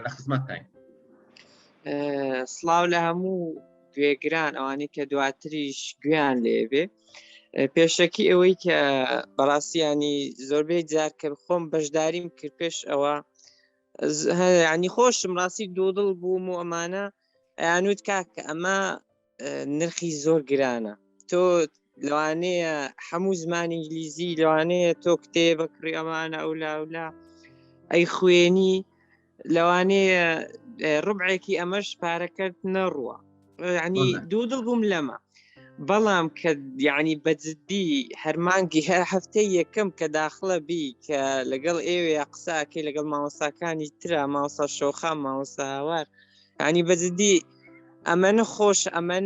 لە خزمەتتاین سلااو لە هەموو گوێگران ئەوانی کە دواتریش گویان لێبێ پێشەکی ئەوەی کە بەڕاستیانی زۆربەی جار کە خۆم بەشداریم کرد پێش ئەوە ینی خۆشم ڕاستی دوو دڵ بووم و ئەمانە ئەیانوت کاکە ئەمە نرخی زۆر گرانە تۆ لەوانەیە هەموو زمان ئینگلیزی لەوانەیە تۆ کتێبە کڕی ئەمانە ئەو لاولا ئەی خوێنی لەوانەیە ڕبعێکی ئەمەش پارەکەت نەڕوە ینی دوو دڵ بووم لەمە بەڵام کە یعنی بەجددی هەرمانگی هەر هەفتەی یەکەم کە داخڵە بی کە لەگەڵ ئێوەیە قساکەی لەگەڵ ماوەساکانی تررا ماوسا شۆخە ماوەساوار ینی بەجددی ئەمەە خۆش ئەمەە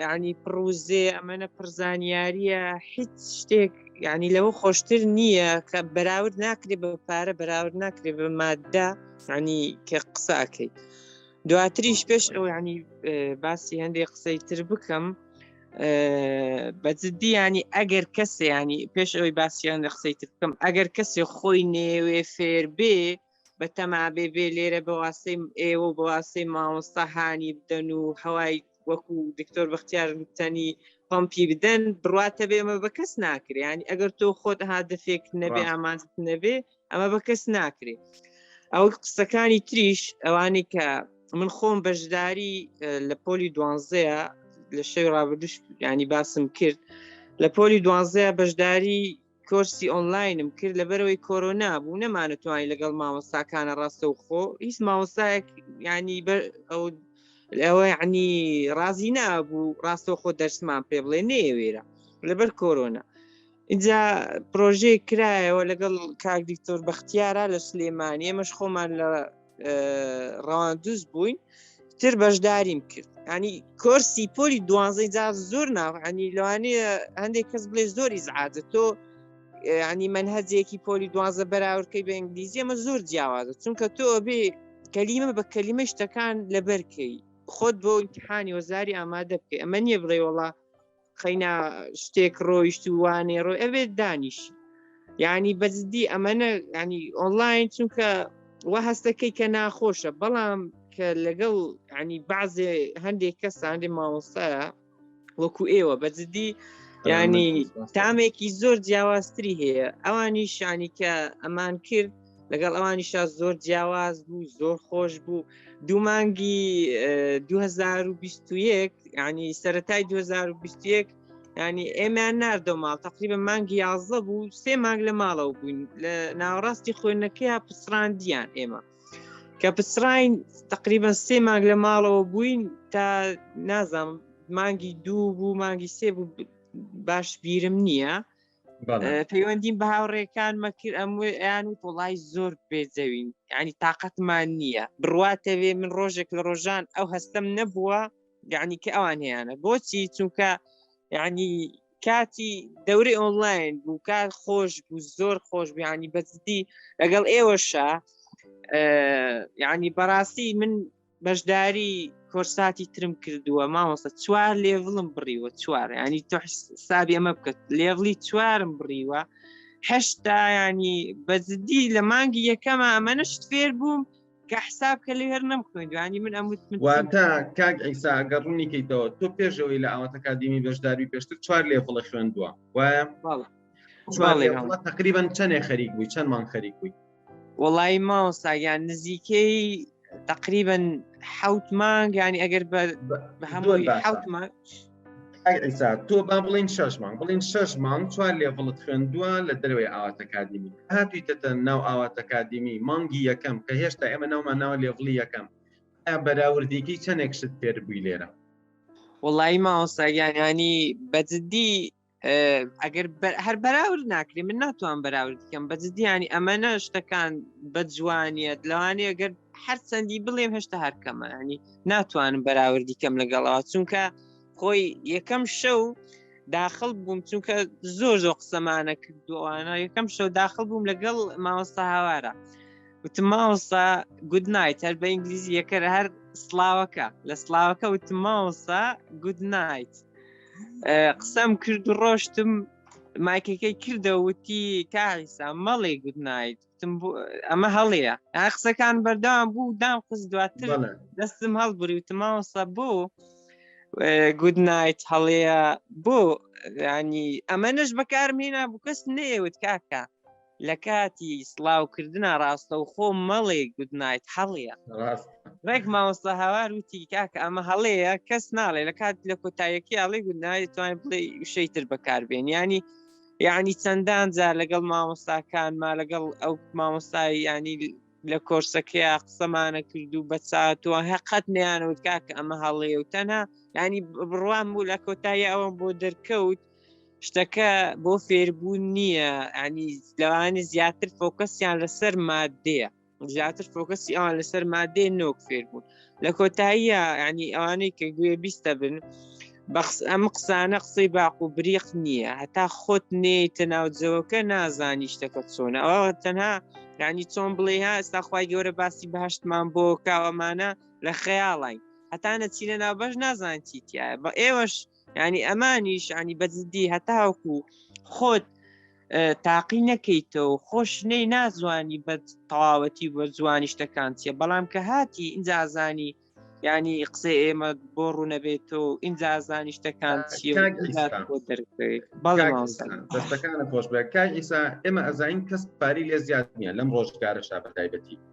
ینی پڕوزێ ئەمەە پرزانیاریە هیچ شتێک ینی لەوە خۆشتر نییە کە بەراورد ناکرێ بە پارە بەراورد ناکرێ بە مادە ینی کە قساکەیت دواتریش پێش ئەو ینی باسی هەندێک قسەی تر بکەم بەجددی ینی ئەگەر کەسێ ینی پێش ئەوی باسییان لە قسەی تر بکەم ئەگەر کەسێ خۆی نێوێ فێر بێ بە تەما بێ بێ لێرە بەواستەی ئێوە و بەواستەی مامۆستا هاانی بدەن و هەوای وەکو دکتۆر بەختیار تەنی پمپی بدەن بڕاتە بێمە بە کەس ناکریانی ئەگەر تۆ خۆت هادفێک نەبێ ئامان نەبێ ئەمە بە کەس ناکرێ ئەو قسەکانی تریش ئەوانەی کە من خۆم بەشداری لە پۆلی دوانزەیە لە شەوی ڕابردوش ینی باسم کرد لە پۆلی دوانزەیە بەشداری کۆرسی ئۆنلاینم کرد لەبەرەوەی کۆرۆنا بوو نەمانتوانی لەگەڵ مامۆستاکانە ڕاستەوخۆ هیچ مامۆستایەک ینی ئەو ئەوە عنی ڕازی نابوو ڕاستەوخۆ دەرسمان پێ بڵێ نێوێرە لەبەر کۆرۆنا اینجا پرۆژەیە کرایەوە لەگەڵ کاک دکتۆر بەختیارە لە سلێمانی ئەمەش خۆمان لە ڕەواندوز بووین تر بەشداریم کرد ینی کۆرسی پۆلی دوانزەی جا زۆر ناوانی لەوانەیە هەندێک کەس بڵێ زۆری زعادە تۆ ینی من هەزێکی پۆلی دوازە بەراوردکەی بە ئینگلیزی ئەمە زۆر جیاوازە چونکە تۆ بێ کەلیمە بە کەلیمە شتەکان لەبەرکەی خۆت بۆ ئیمتحانی وەزاری ئامادە بکەی ئەمە نییە بڵێ وڵا قەینا شتێک ڕۆیشت و وانێ ڕۆی ئەوێت دانیش ینی بەزدی ئەمەە ینی ئۆنلاین چونکە وە هەستەکەی کە ناخۆشە بەڵام کە لەگەڵ ینی بازێ هەندێک کەساندێ ماوەسەیە وەکو ئێوە بەزدی ینی تامێکی زۆر جیاوازتری هەیە ئەوانی شانی کە ئەمان کرد لەگەڵ ئەوانیشا زۆر جیاواز بوو زۆر خۆش بوو دوو مانگی 2021 ینی سەتای 2021 ینی ئێمیان نردۆ ماڵ تقریبە مانگی یازدە بوو سێ مانگ لە ماڵەوە بووین لە ناوەڕاستی خوێندنەکەی پسراندیان ئێمە کە پسراین تقریبا سێ مانگ لە ماڵەوە بووین تا نازانم مانگی دوو بوو مانگی سێ بوو باش بیرم نییە پەیوەندیم بە هاوڕێکان مەکر ئەمویان و تۆڵای زۆر بێزەوین ینی تااقەتمان نییە بڕواتەوێ من ڕۆژێک لە ڕۆژان ئەو هەستم نەبووە یعنی کە ئەوان هیانە بۆچی چونکە ینی کاتی دەوری ئۆنلاین بوو کار خۆش بوو زۆر خۆش بیانی بەزدی لەگەڵ ئێوەشە ینی بەڕاستی من بەشداری کۆرساتی ترم کردووە مامۆستا چوار لێڤڵم بڕیوە چوار ینی تۆ حسابی ئەمە بکەت لێڤڵی چوارم بڕیوە هەشتا ینی بەزدی لە مانگی یەکەمە ئەمەنەشت فێر بووم کە حساب کە لە هەر نەم خوێندوانی من ئەموت واتە کاک ئیسا گەڕ ڕوونی کەیتەوە تۆ پێشەوەی لە ئاوات ئەکادیمی بەشداری پێشتر چوار لێڤڵە خوێندووە وایە تقریبان چەندێ خەریک بووی چەندمان خەریک بووی وەڵی ماوەستا یان نزیکەی تقریبن حوت مانگ ینی ئەگەر بە هەمووی حوت مانگ ئەگەسا تۆ با بڵین شش مانگ بڵین شش مانگ چوار لێڤڵت خوێندووە لە دەروێ ئاواتەکادیمی هاتویتەتە ناو ئاواتەکادیمی مانگی یەکەم کە هێشتا ئێمە ناومان ناوە لێڤڵی یەکەم بەراوردێکی چەندێک شت فێر بووی لێرە وڵی ماوەساگیانانی بەجددی ئەگەر هەر بەراورد ناکرێ من ناتوان بەراورد بکەم بە جدیانی ئەمەە شتەکان بە جوانیت لەوانێ ئەگەر هەر چەندی بڵێم هێشتا هەرکەمانی ناتوانم بەراوردی کەم لەگەڵەوە چونکە خۆی یەکەم شەو داخل بووم چونکە زۆر زۆر قسەمانە کردووانە یەکەم شەو داخل بووم لەگەڵ ماوەستا هاوارە وتم ماوەستا گود نایت هەر بە ئینگلیزی یەکەر هەر سلااوەکە لە سلااوەکە وتم ماوەسا گود نایت قسەم کرد و ڕۆشتم مایکەکەی کردە وتی کاریسا مەڵێ گوت نایت ئەمە هەڵەیە ئا قسەکان بەردەوام بوو دام قس دواتر دەستم هەڵبوری وتماوەسە بۆ گود نایت هەڵەیە بۆ ینی ئەمە نەش بەکارمهێنا بوو کەس نەیەوت کاکە لەکاتی سڵاو کردنا ڕاستەوخۆ مەڵێ گود نایت هەڵەیە ڕێک مامۆستا هاوار وتی کاکە ئەمە هەڵەیە کەس ناڵێ لە کات لە کۆتایەکی ئاڵی گود نایت توانین بڵێ وشەی تر بەکاربێن ینی یعنی چەندان جار لەگەڵ مامۆستاکان ما لەگەڵ ئەو مامۆستای ینی لە کۆرسەکەیا قسەمانە کرد و بەچاتوە هەقەت نیانەوت کاکە ئەمە هەڵەیە و تەنها ینی بڕوام بوو لە کۆتایی ئەوەم بۆ دەرکەوت شتەکە بۆ فێربوون نییە ئەنی لەوانی زیاتر فۆکەسیان لەسەر مادەیە زیاتر فۆکەسی ئەوان لەسەر مادەێ نۆک فێر بوون لە کۆتاییە ینی ئەوانەی کە گوێ بیستە بن بەخس ئەم قسانە قسەی باق و بریق نییە هەتا خۆت نێتە ناوجەوەکە نازانی شتەکە چۆنە ئەوە تەنها ینی چۆن بڵێ ها ئێستاخوای گەورە باسی بەهشتمان بۆ کاوەمانە لە خەیاڵین هەتانە چینە ناوبەش نازان چیتیایە بە ئێوەش ینی ئەمانیش ینی بەزدی هەتاوکو خۆت تاقی نەکەیتەوە خۆش نەی نازوانی بە تەواوەتی بۆ زوانی شتەکان چیە بەڵام کە هاتی ئینجازانی ینی قسە ئێمە بۆ ڕوونەبێتەوە ئینجازانی شتەکان چیە بەڵێستەکانە خۆش بە کای ئیسا ئێمە ئەزانین کەس پاری لێ زیاد نیە لەم ڕۆژگارە شابەتایبەتی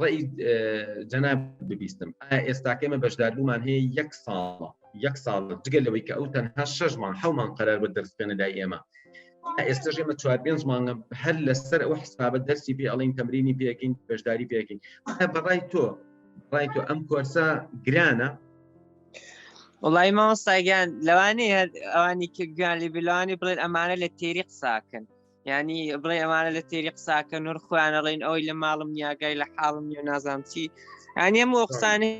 ڕێی جەناب ببیستم ئێستاکەی مە بەشداربوومان هەیە یەک ساڵە یەک ساڵ جگە لەوەی کە ئەو تەنها شەشمان حومان قەرار بە دەرسێنە لای ئێمە ئێستا ژێمە چوار پێنج مانگە هەر لەسەر ئەو حسابە دەرسی پێ ئەڵین تەمرینی پێکین بەشداری پێکین بەڕای تۆ ڕای تۆ ئەم کۆرسە گرانە وڵی مامۆستاگیان لەوانی ئەوانی کە گویان لیبیلانی بڵێن ئەمانە لە تێری قساکەن ینی بڵێ ئەمانە لە تێری قساکە نور خۆیانەڵین ئەوی لە ماڵم نیاگای لە حاڵم نیە نازام چی ئەنیە مۆقسانی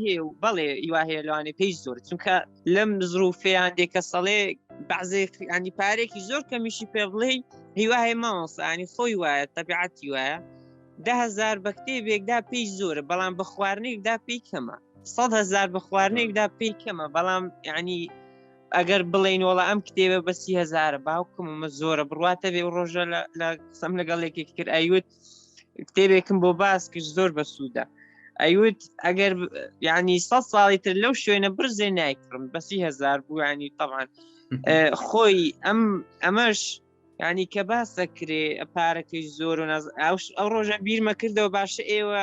هێ و بەڵێ ئیوا هەیە لەوانێ پێی زۆر چونکە لەم زروفیان دێکە سەڵێ بەعزێ ئەنی پارێکی زۆر کەمیشی پێ بڵێ هیوا هەیە مامۆسانی خۆی وایە تەبیعەتی وایە دههزار بە کتێبێکدا پێی زۆرە بەڵام بە خواردنێکدا پێی کەمە سەد هزار بە خواردنێکدا پێی کەمە بەڵام ینی ئەگەر بڵین وڵا ئەم کتێبە بە سی هزارە باوکم ئەمە زۆرە بڕاتە بێ ڕۆژە لە قسەم لەگەڵ یەکێک کرد ئەیوت کتێبێکم بۆ باس کرد زۆر بە سوودە ئەیوت ئەگەر ینی سە ساڵی تر لەو شوێنە برزێ نایکڕم بەسی هزار بوو ینی تەوان خۆی ئەم ئەمەش ینی کە باس دەکرێ پارەکەی زۆر و ئەو ڕۆژە بیرمە کردەوە باشە ئێوە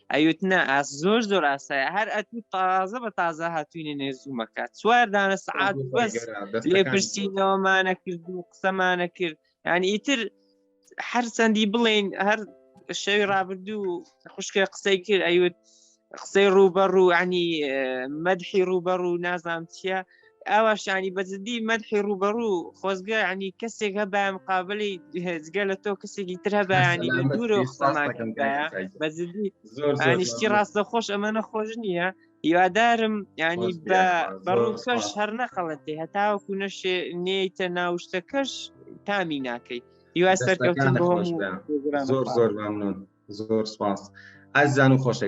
ئەوت نا ئاس زۆر زۆر ئاسایە هەر ئەتو تازە بە تازە هاتوینە نێ زوومەکە چوار دانە سعات بەس لێ پرسیینەوەمانە کرد و قسەمانە کرد یعنی ئیتر هەر چەندی بڵین هەر شەوی ڕابردوو خوشکە قسەی کرد ئەوت قسەی ڕووبەڕوو عنی مەدحی ڕووبەڕوو نازام چییە ئاواشانی بە جددی مەدحی ڕوبەڕوو خۆزگە عنی کەسێک هەبام قابلی هێزگە لە تۆ کەسێکی تر هەبیانی لە دوورە خۆماکەم بە جددی زۆرشتی ڕاستە خۆش ئەمەە خۆش نییە هیوادارم ینی بە بەڕووکەش هەر نەخەڵەتێ هەتاوەکو نەشێ نێیتە ناوشتەکەش تامی ناکەیت هیوا سەرکەوتن زۆر زۆر ممنون زۆر سپاس ئازان و خۆشە